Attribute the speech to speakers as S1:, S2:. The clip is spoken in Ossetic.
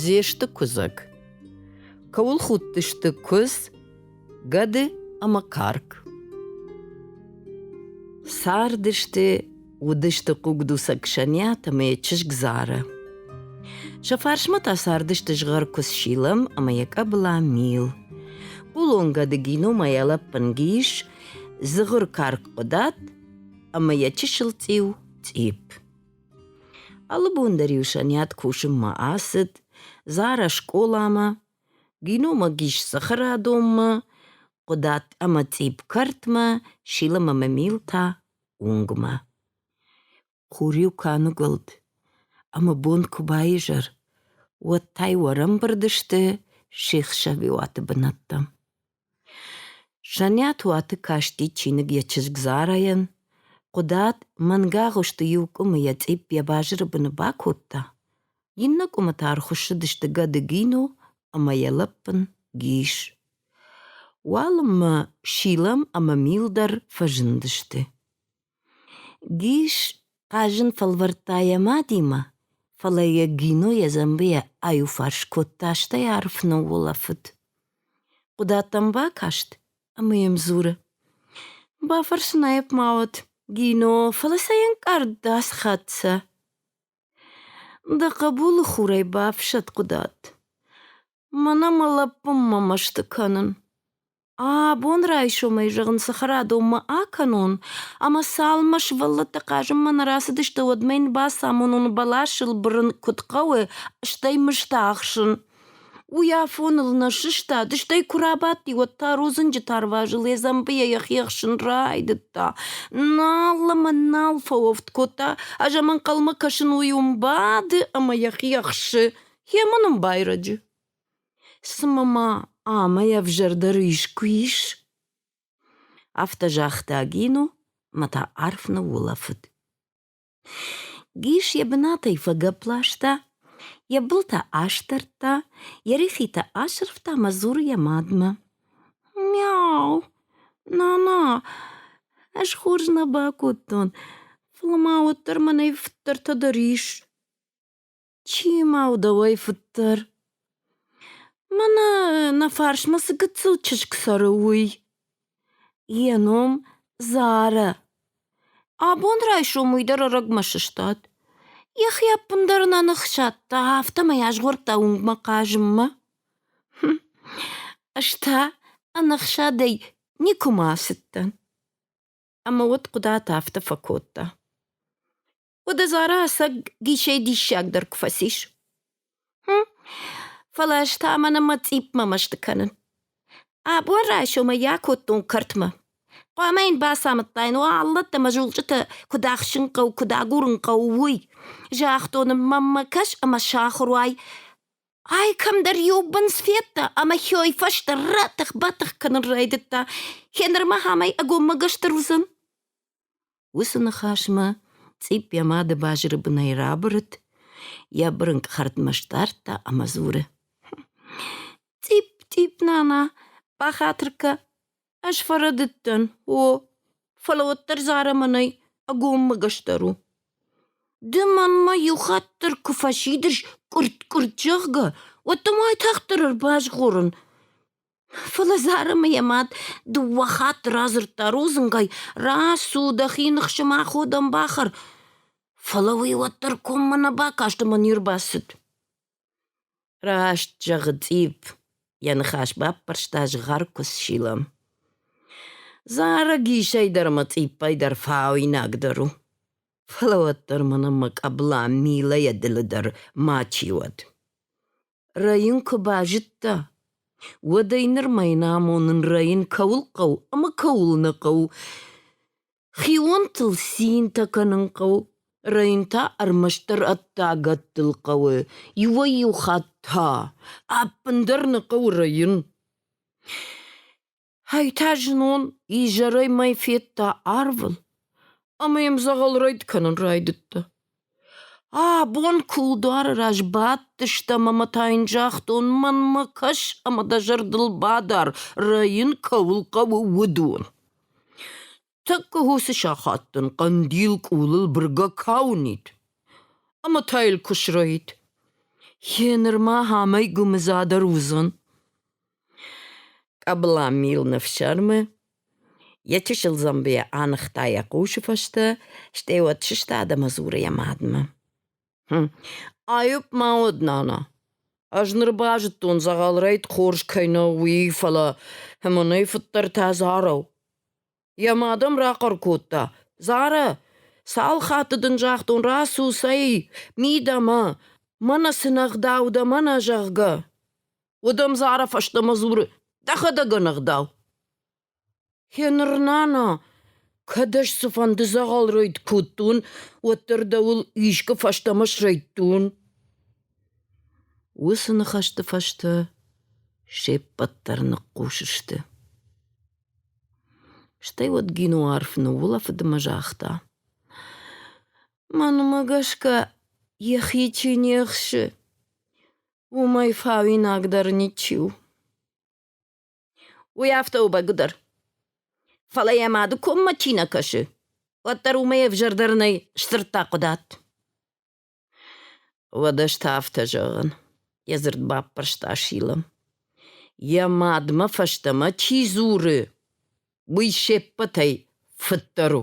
S1: Зесты куыдзӕг. Кӕуыл худтысты куыдз, гӕды ӕмӕ карк. Цардысты, уыдысты хъугдуцӕг Сӕниат ӕмӕ йӕ чызг Зара. Сӕ фарсмӕ та цардысты згъӕркуыдз Шилам ӕмӕ йӕ къӕбыла Мил. Хъулон гӕды геномайӕ лӕппын Гис, дзыгъыр карк Хъуыдат ӕмӕ йӕ чысыл цъиу Цъипп. Алы бон дӕр-иу Сӕниат кусынмӕ ацыд Зарӕ скъоламӕ, гиномаг ис цӕхӕрадонмӕ, Хъуыдат ӕмӕ цъипп кӕртмӕ, Шилам ӕмӕ Мил та уынгмӕ. Хур-иу куы аныгуылд ӕмӕ бон куы баизӕр, уӕд та-иу ӕрӕмбырд сты се хсӕвиуаты бынӕттӕм. Саниат уаты касти чиныг йӕ чызг Зарайӕн, хъуыдат мӕнгагъуысты иу къуымы йӕ цъипп йӕ базыры быны бакодта, иннӕ къуымы та ӕрхуыссыдысты гӕды Гино ӕмӕ йӕ лӕппын Гис. Уалынмӕ Шилам ӕмӕ Мил дӕр фӕзындысты. Гис хъазын фӕлвӕрдта йӕ мадимӕ, фӕлӕ йӕ Гино йӕ дзӕмбыйӕ аиуфарс кодта, стӕй арф ныуулӕфыд. Хъуыдаттӕм бакаст ӕмӕ йӕм дзуры: «Бафӕрсынайӕп ма уӕд, Гино, фӕлӕ сӕ йе нкъард ас хатт сӕ?» «Дӕ хъӕбулы хурӕй бафсӕд, Хъуыдатт. Мӕнӕ мӕ лӕппынмӕ мӕсты кӕнын. Абон райсомӕй, зӕгъын, цӕхӕрадонмӕ акӕнон, ӕмӕ цалынмӕ сывӕллӕттӕ хъазынмӕ нӕ рацыдысты, уӕдмӕ йын бацамонон бӕласыл бырын куыд хъӕуы, стӕй мысты ахсын. Уый афоныл нӕ сыстад, стӕй куы рабадти, уӕд та рудзынджы тарвазы ледзӕмбыйӕ йӕхи ӕхсын райдыдта. Нал ӕмӕ нал фӕуӕфт кодта, ӕз ӕм ӕнхъӕлмӕ кӕсын, уый уым бады ӕмӕ йӕхи ӕхсы. Йемӕ нын байрӕджы. Цымӕ ма амӕй ӕвзӕрдӕр искуы ис? Афтӕ загъта Гино мӕ та арф ныуулӕфыд. Гис йӕ бынатӕй фӕгӕпп ласта, йӕ былтӕ астӕрдта, йӕ рихитӕ асырфта мӕ дзуры йӕ мадмӕ. Мяу, нана, ӕз хорз нӕ бакодтон, фӕлӕ ма уӕддӕр мӕнӕй фыддӕртӕ дӕр ис. Чи ма у дӕуӕй фыддӕр? Мӕнӕ нӕ фарсмӕ цы гыццыл чызг цӕры, уый. Йӕ ном Зарӕ. Абон райсом уый дӕр ӕрӕгмӕ сыстад. Йӕхи ӕппындӕр нӕ ныхсадта, афтӕмӕй азгъордта уынгмӕ хъазынмӕ. Ӕз та ӕнӕхсадӕй никуыма ацыдтӕн. Ӕмӕ уӕд Хъуыдат афтӕ фӕкодта. уӕд Азарӕ ӕцӕг гисӕй диссагдӕр куы фӕцис. Фӕлӕ ӕз та мӕнӕ мӕ цъиппмӕ мӕсты кӕнын. Абон райсомӕй йӕ акодтон кӕртмӕ. Хъуамӕ йын бацамыдтаин, уа аллӕттӕ мӕ зулчъытӕ куыд ӕхсын хъӕуы, куыд агурын хъӕуы, уый. Загътон ын, мӕммӕ кӕс ӕмӕ сахуыр уай. Ай кӕмдӕр иу бындз федта ӕмӕ хёй фӕстӕ ратых-батых кӕнын райдыдта. Гьеныр мӕ амӕй ӕгоммӕгӕстӕр уыдзӕн. Уыцы ныхасмӕ цъипп йӕ мады базыры бынӕй рабырыд, йӕ бырынкъ хӕрдмӕ сдардта ӕмӕ дзуры: — Цъипп, цъипп, нана, бахатыр кӕ. Ӕз фӕрӕдыдтӕн, о, фӕлӕ уӕддӕр Зӕрӕмӕнӕй ӕгоммӕ гӕсдӕр у. Ды мӕнмӕ иу хатт дӕр куы фӕсидыс, къуыртт-къуыртт, зӕгъгӕ, уӕд дӕм уайтагъддӕр ӕрбазгъорын. Фӕлӕ Зарӕмӕ йӕ мад дыууӕ хатты радзырдта рудзынгӕй: «Рацу, дӕхи ныхсымӕ аходӕн бахӕр!» Фӕлӕ уый уӕддӕр коммӕ нӕ бакаст ӕмӕ не рбацыд. «Раст зӕгъы, Цъипп!» — йӕ ныхас баппӕрста згъӕркуы сила. Зарӕгисӕй дӕр ӕмӕ Цъиппӕй дӕр фауинагдӕр у. Фӕлӕ уӕддӕр мӕнӕн мӕ къӕбыла Милӕйӕ дылы дӕр мачи уӕд. Рӕйын куы базыдта, уӕд ӕй нырма йын амонын рӕйын кӕуыл хъӕуы ӕмӕ кӕуыл нӕ хъӕуы. Хионтыл цинтӕ кӕнын хъӕуы, рӕйын та ӕрмӕстдӕр ӕддагӕттыл хъӕуы, иуӕй-иу хатт та ӕппындӕр нӕ хъӕуы рӕйын. Ӕй та знон изӕрӕй мӕ федта арвын ӕмӕ йӕм дзӕгъӕл рӕйд кӕнын райдыдта. А, бон кулдуары раз бадтыстӕм ӕмӕ та йын загътон, мӕнмӕ кӕс ӕмӕ дӕ зӕрдыл бадар, рӕйын кӕуыл хъӕуы, уыдон. Тӕккӕ уыцы сахат дын хъӕндил къулыл быргӕ кӕ уынид ӕмӕ та йыл куы срӕйд. Гъенырма амӕй гуымыдзӕдӕр уыдзӕн. Къӕбыла милны фсӕрмы, йӕ чысыл дзӕмбыйӕ аныхта йӕ хъусы фӕстӕ, стӕй уӕд сыстад ӕмӕ дзуры йӕ мадмӕ. Айып ма уӕд, нана. Ӕз ныр базыдтон, дзӕгъӕлрӕйт хорз кӕй нӕу, уый, фӕлӕ мӕнӕй фыддӕртӕ Зарӕ у. Йӕ мад ӕм рахъӕр кодта: Зарӕ, цал хатты дын загътон, рацу, цӕй, мидӕмӕ, мӕнӕ цы нӕгъдау дӕ, мӕнӕ, зӕгъгӕ. Уӕд ӕм Зарӕ фӕстӕмӕ дзуры: Дӕхӕдӕг ӕнӕгъдау. Гьеныр, нана, кӕд ӕз цыфӕнды дзӕгъӕл ройд кодтон, уӕддӕр дӕуыл искуы фӕстӕмӕ срӕйдтон. Уыцы ныхӕсты фӕстӕ се ппӕт дӕр ныхъхъус сты. Стӕй уӕд Гино арф ныуулӕфыд ӕмӕ загъта. Мӕнмӕ гӕсгӕ йӕхи чи не хсы, уымӕй фауинагдӕр ничи у. Уый афтӕ у бӕгуыдӕр. Фӕлӕ йӕ мады коммӕ чи нӕ кӕсы, уӕддӕр уымӕй ӕвзӕрдӕр нӕй, сдзырдта Хъуыдат. Уӕдӕ ӕз та афтӕ зӕгъын, йӕ дзырд баппӕрста Шилам. Йӕ мадмӕ фӕстӕмӕ чи дзуры, уый се ппӕтӕй фыддӕр у.